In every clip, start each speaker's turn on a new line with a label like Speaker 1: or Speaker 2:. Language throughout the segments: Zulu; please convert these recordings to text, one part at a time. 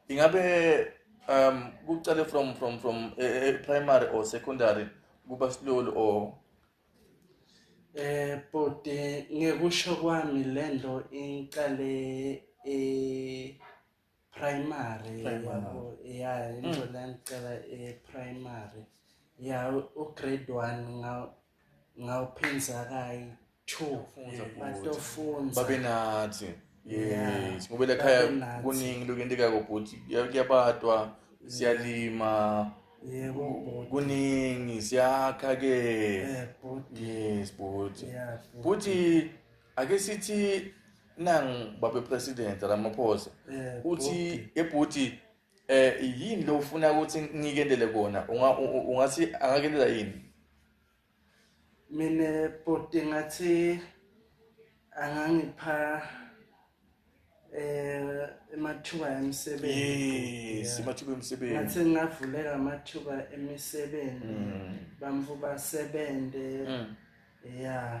Speaker 1: ingabe um kucale from from from e, e, primary or secondary kuba silolu or eh
Speaker 2: bhuti ngekusho kwami lento iqale e primary yabo ya into mm. lengicela e primary ya u grade 1 ngaw ngawuphinza kayi True. Funza Yeah. bhuti. Batofunza. Babe nathi.
Speaker 1: Yeah. Yes.
Speaker 2: Ngoba lakhaya Babe
Speaker 1: nathi. kuningi
Speaker 2: lokuyenteka
Speaker 1: kobhuti. Kuya- Kuyabatwa, siyalima, Yebo bhuti.
Speaker 2: kuningi
Speaker 1: siyakha ke. Eh bhuti. Yes,
Speaker 2: bhuti.
Speaker 1: Yeah. bhuti. Bhuti ake sithi nang babe president Ramaphosa. Eh, Uthi ebhuti eh yini lo ufuna ukuthi ngikendele kona? Unga u- u- ungathi angakendela yini? mina
Speaker 2: bhuti ngathi angangipha eh amathuba emisebenzi yes amathuba emisebenzi
Speaker 1: ngathi ngavuleka
Speaker 2: amathuba emisebenzi mm. bamfu basebenze mm. yeah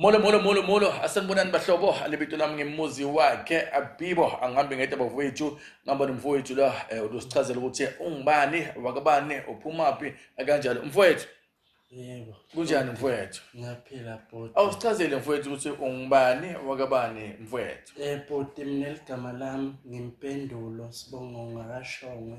Speaker 1: Molo molo molo molo asanibonani bahlobo alibito lami ngemuzi wakhe abibo angihambi ngedwa bafowethu ngihamba nomfowethu la eh, usichazela ukuthi ungubani wakabani uphumaphi kanjalo mfowethu yebo
Speaker 2: kunjani mfowethu
Speaker 1: ngiyaphila bhuti
Speaker 2: awusichazele mfowethu ukuthi
Speaker 1: ungubani wakabani mfowethu eh bhuti mina
Speaker 2: ligama lami ngimpendulo sibongo ngakashongwe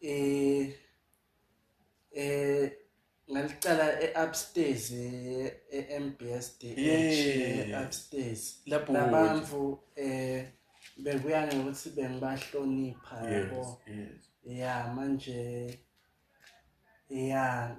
Speaker 2: eh eh ngaliqala e-upstairs e-MBSD e-upstairs lapho abantu eh bekuya ngokuthi bengibahlonipha yabo ya manje ya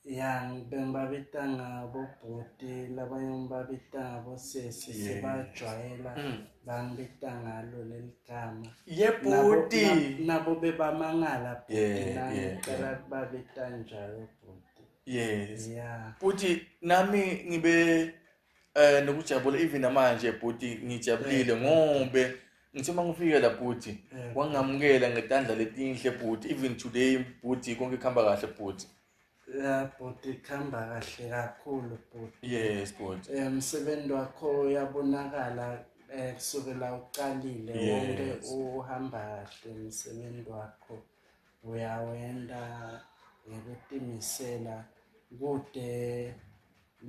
Speaker 2: ya bengibabita ngabo bhuti labanye ngibabita ngabo sesi sebajwayela mm. bangibita ngalo leli gama yebhuti
Speaker 1: nabo
Speaker 2: bebamangala bhuti nangicela kubabita njalo bhuti yes yeah.
Speaker 1: bhuti
Speaker 2: nami
Speaker 1: ngibe Eh nokujabula even namanje bhuti ngijabulile eh. ngobe ngithe uma ngifike la bhuti eh. wangamukela ngetandla letinhle bhuti even today bhuti konke kuhamba kahle bhuti ya
Speaker 2: bhuti kuhamba kahle kakhulu bhuti yes bhuti eh,
Speaker 1: umsebenzi wakho
Speaker 2: uyabonakala eh kusukela uqalile wonke uhamba kahle umsebenzi wakho uyawenda ngokutimisela kude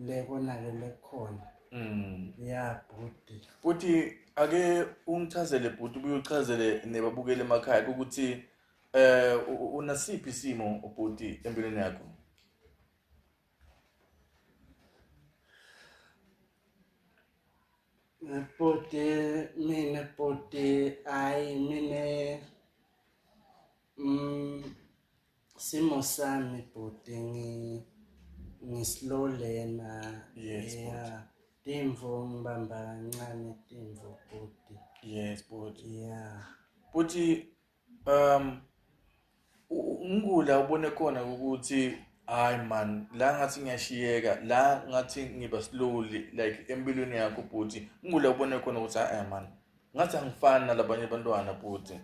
Speaker 2: le konakele kukhona Mm. ya bhuti Futhi
Speaker 1: ake ungichazele bhuti ubuye uchazele nebabukeli emakhaya ukuthi eh u- u- unasiphi isimo ubhuti empilweni yakho.
Speaker 2: bhuti mina bhuti hayi mina Mm, simo sami bhuti ngi ngislow lena yes yeah. timvo ngibamba kancane timvo bhuti yes bhuti
Speaker 1: yeah
Speaker 2: bhuti
Speaker 1: um ngikula ubone khona ukuthi hayi man la ngathi ngiyashiyeka la ngathi ngiba slowly like empilweni yakho bhuti ngikula ubone khona ukuthi hayi man ngathi angifani nalabanye abantwana bhuti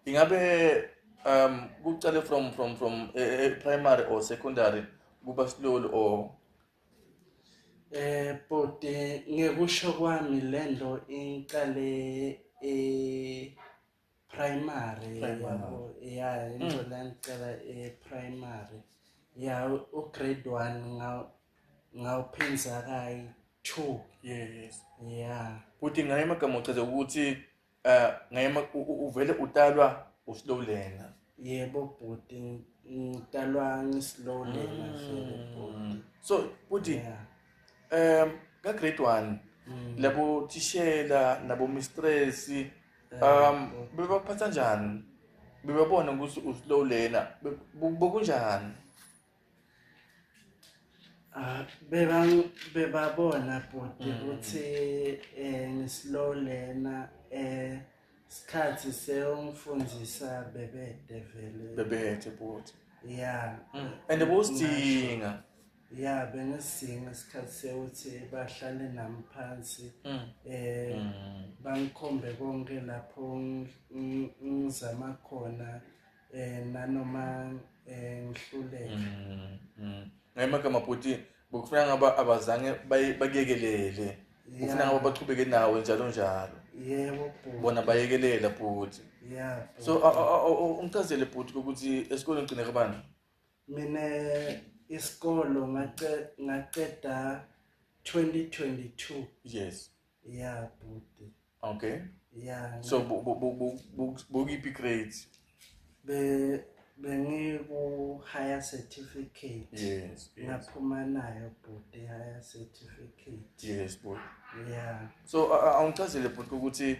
Speaker 1: ingabe um kuqale from from from e, e, primary or secondary kuba silolu or eh
Speaker 2: bhuti ngekusho kwami le nto iqale e primary ya into mm. le ngicela e primary ya ugrade 1 ngawuphenza kayi two yes
Speaker 1: yeah
Speaker 2: futhi ngaye amagama
Speaker 1: uchaze ukuthi um ngaye uvele utalwa uslow learner yebo
Speaker 2: bhuti ngitalwa ngislow learner mm. so futhi
Speaker 1: um
Speaker 2: ka-grade
Speaker 1: one mm. labo thishela nabo mistress um bebaphatha njani bebabona ukuthi uslow learner bokunjani Ah,
Speaker 2: beba bebabona bhuti mm. ukuthi eh ngislow lena eh sikhathi sewungifundisa bebede vele bebede bhuti
Speaker 1: yeah mm.
Speaker 2: and
Speaker 1: bowusidinga ya
Speaker 2: bengisinga isikhathi sewuthi bahlale nami phansi mm. eh bangikhombe konke lapho ngizama khona eh nanoma eh ngihluleke mm,
Speaker 1: mm. ngayimagama bhuti bokufuna ngaba abazange bayekelele ufuna ngaba bachubeke nawe njalo njalo yebo bhuti
Speaker 2: bona bayekelela
Speaker 1: bhuti yeah
Speaker 2: so
Speaker 1: ungicazele bhuti ukuthi esikoleni ugcine kabani mina
Speaker 2: isikolo ngaqeda 2022 yes
Speaker 1: Yeah,
Speaker 2: bhuti. Okay.
Speaker 1: Yeah. So bukiphi grade? Be
Speaker 2: bengiku higher certificate. Yes.
Speaker 1: Ngaphuma nayo
Speaker 2: bhuti higher certificate. Yes, bhuti.
Speaker 1: Yeah. So awungichazele bhuti ukuthi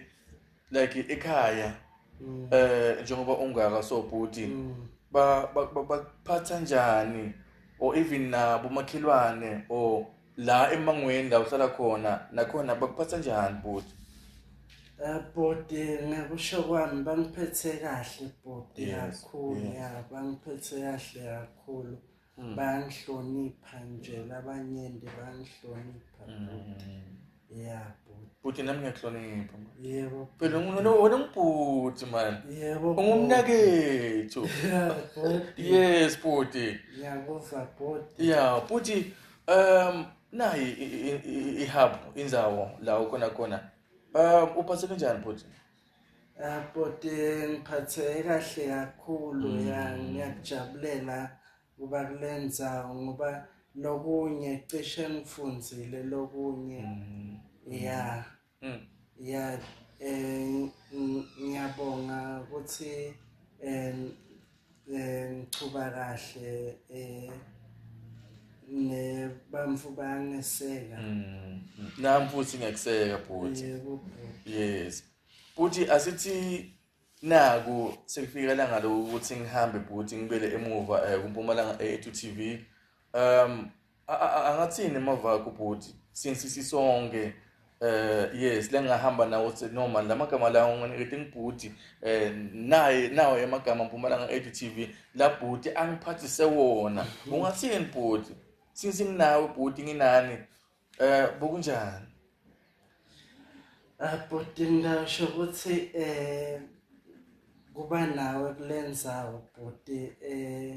Speaker 1: like ekhaya mm. eh njengoba ungaka so bhuti mm. ba bakuphatha njani or even nabo makhelwane or la emangweni la uhlala khona nakhona bakuphatha njani bhuti eh, bhuti
Speaker 2: ngikusho kwami bangiphethe kahle bhuti kakhulu ya bangiphethe kahle kakhulu mm. bayanhlonipha nje labanyenti bayanhlonipha ya bhuti bhuti nami ngiyakuhlonipha
Speaker 1: yebo phela
Speaker 2: wena
Speaker 1: ngibhuti mani yebo
Speaker 2: ungumnakethu yes bhuti
Speaker 1: ngiyakuva
Speaker 2: bhuti ya bhuti
Speaker 1: um nayi ihub inzawo la ukhona khona um uphatheke njani bhuti Abhuti
Speaker 2: ngiphatheke kahle kakhulu ya mm. ngiyakujabulela kuba kule ndzawo ngoba lokunye cishe ngifundzile lokunye mm. ya mm. ya um ngiyabonga ukuthi um eh ngichuba kahle eh ne bamfu bangeseka mm.
Speaker 1: nami futhi ngiyakuseka bhuti
Speaker 2: yes
Speaker 1: bhuti asithi naku sekufika langa lokuthi ngihambe bhuti ngibele emuva eh, kumpumalanga e2 TV um angathini mavakho bhuti since sisonke eh yes lengahamba nawo se noma lamagama la unginikete ngibhuti eh naye nawo yamagama mpumalanga edu TV la bhuti angiphathise wona ungathini bhuti since nginawe bhuti nginani eh bokunjani
Speaker 2: abhuti ah, ngasho ukuthi eh kuba nawe kulenzawo bhuti eh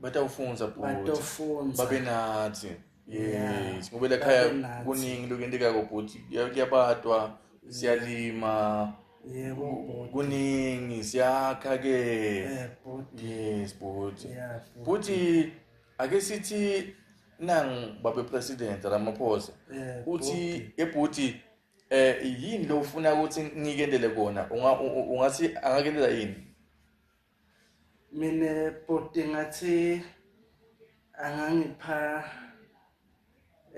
Speaker 1: batawufundza bhuti babe natsi yes ngoba lakhaya kuningi lokentekako bhuti kuyabatwa siyalima yebo
Speaker 2: kuningi
Speaker 1: siyakha ke eh, yes bhuti bhuti ake sithi nang babe president ramaphosa eh, uthi ebhuti eh yini lo ufuna ukuthi ngikendele kona ungathi angakendela yini mina
Speaker 2: bhuti ngathi angangipha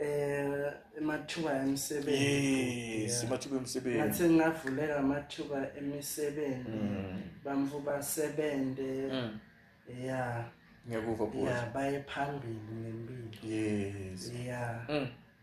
Speaker 2: eh amathuba emisebenzi yes amathuba
Speaker 1: emisebenzi ngathi ngavuleka
Speaker 2: amathuba emisebenzi mm. bamfu basebenze mm. ya ngiyakuva
Speaker 1: bhuti ya
Speaker 2: baye phambili ngempilo yes
Speaker 1: ya
Speaker 2: mm.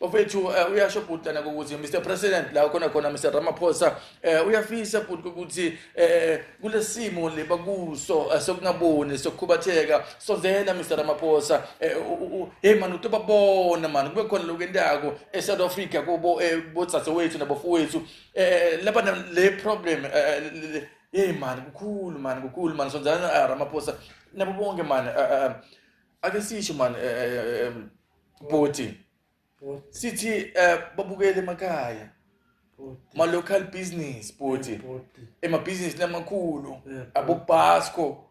Speaker 1: Bafethu uh, uyasho bhuti lana ukuthi Mr President la khona khona Mr Ramaphosa uh, uyafisa bhuti ukuthi uh, kulesimo le bakuso uh, sokungaboni sokukhubatheka sozela Mr Ramaphosa uh, hey man utobabona man kube khona lokendako eSouth Africa kubo botsatse wethu nabafowethu uh, laba le problem uh, hey man kukhulu man kukhulu man sozela uh, Ramaphosa nabo bonke man uh, uh, ake sisho man uh, uh, um, bhuti sithi eh, babukele emakhaya ma local business bhuti emabhizinisi lamakhulu abobasco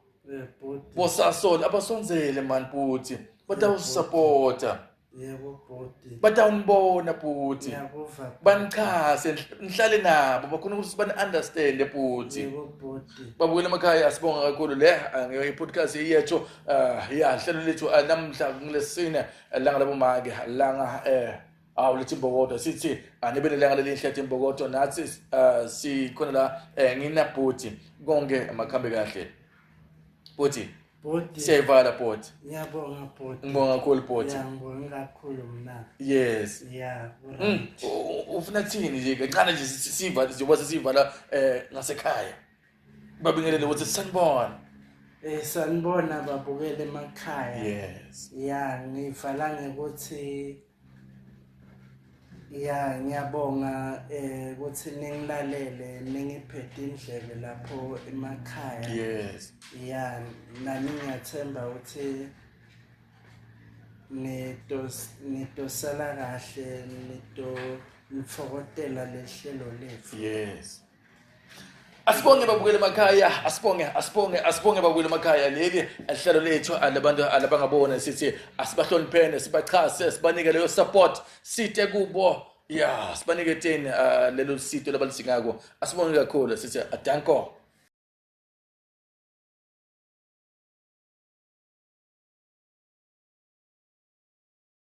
Speaker 1: bosasol abasonzele mani bhuti batawusupporta yebo bhuti
Speaker 2: batawunibona
Speaker 1: bhuti ngiyakuva
Speaker 2: banichase
Speaker 1: nihlale nabo bakhona ukuthi bani-understande bhuti yebo bhuti
Speaker 2: babukela emakhaya
Speaker 1: asibonga kakhulu le angiyo i-podcast iyatsho Uh, ya hlelo lethu uh, namhla ngilesine eh, langa labomake langa eh awu lethi imbokodo sithi anibele langa lelinhle ethi imbokodo nathi uh, sikhona la eh, nginabhuti konke makhambe kahle bhuti bhuti
Speaker 2: siyayivala bhuti
Speaker 1: ngiyabonga bhuti
Speaker 2: ngibonga kakhulu bhuti
Speaker 1: ngibonga kakhulu
Speaker 2: mna yes yeah
Speaker 1: mm. ufuna thini nje kancane nje siva njengoba sesivala eh ngasekhaya babingelele ukuthi sanibona Eh sanibona
Speaker 2: babukele emakhaya. Yes. Ya
Speaker 1: ngivala
Speaker 2: ngekuthi ya ngiyabonga eh ukuthi ningilalele ningiphethe indlebe lapho emakhaya. Yes.
Speaker 1: Ya
Speaker 2: nami ngiyathemba ukuthi nitos nitosala kahle nito nifokotela lehlelo lethu. Yes.
Speaker 1: asibonge babukele emakhaya asibonge asibonge asibonge babukele emakhaya leli lihlelo lethu alabantu alabangabona sithi asibahloniphene sibachase sibanike leyo support site kubo ya sibanike teni ah, lelo sito labalidingako asibonge kakhulu sithi adanko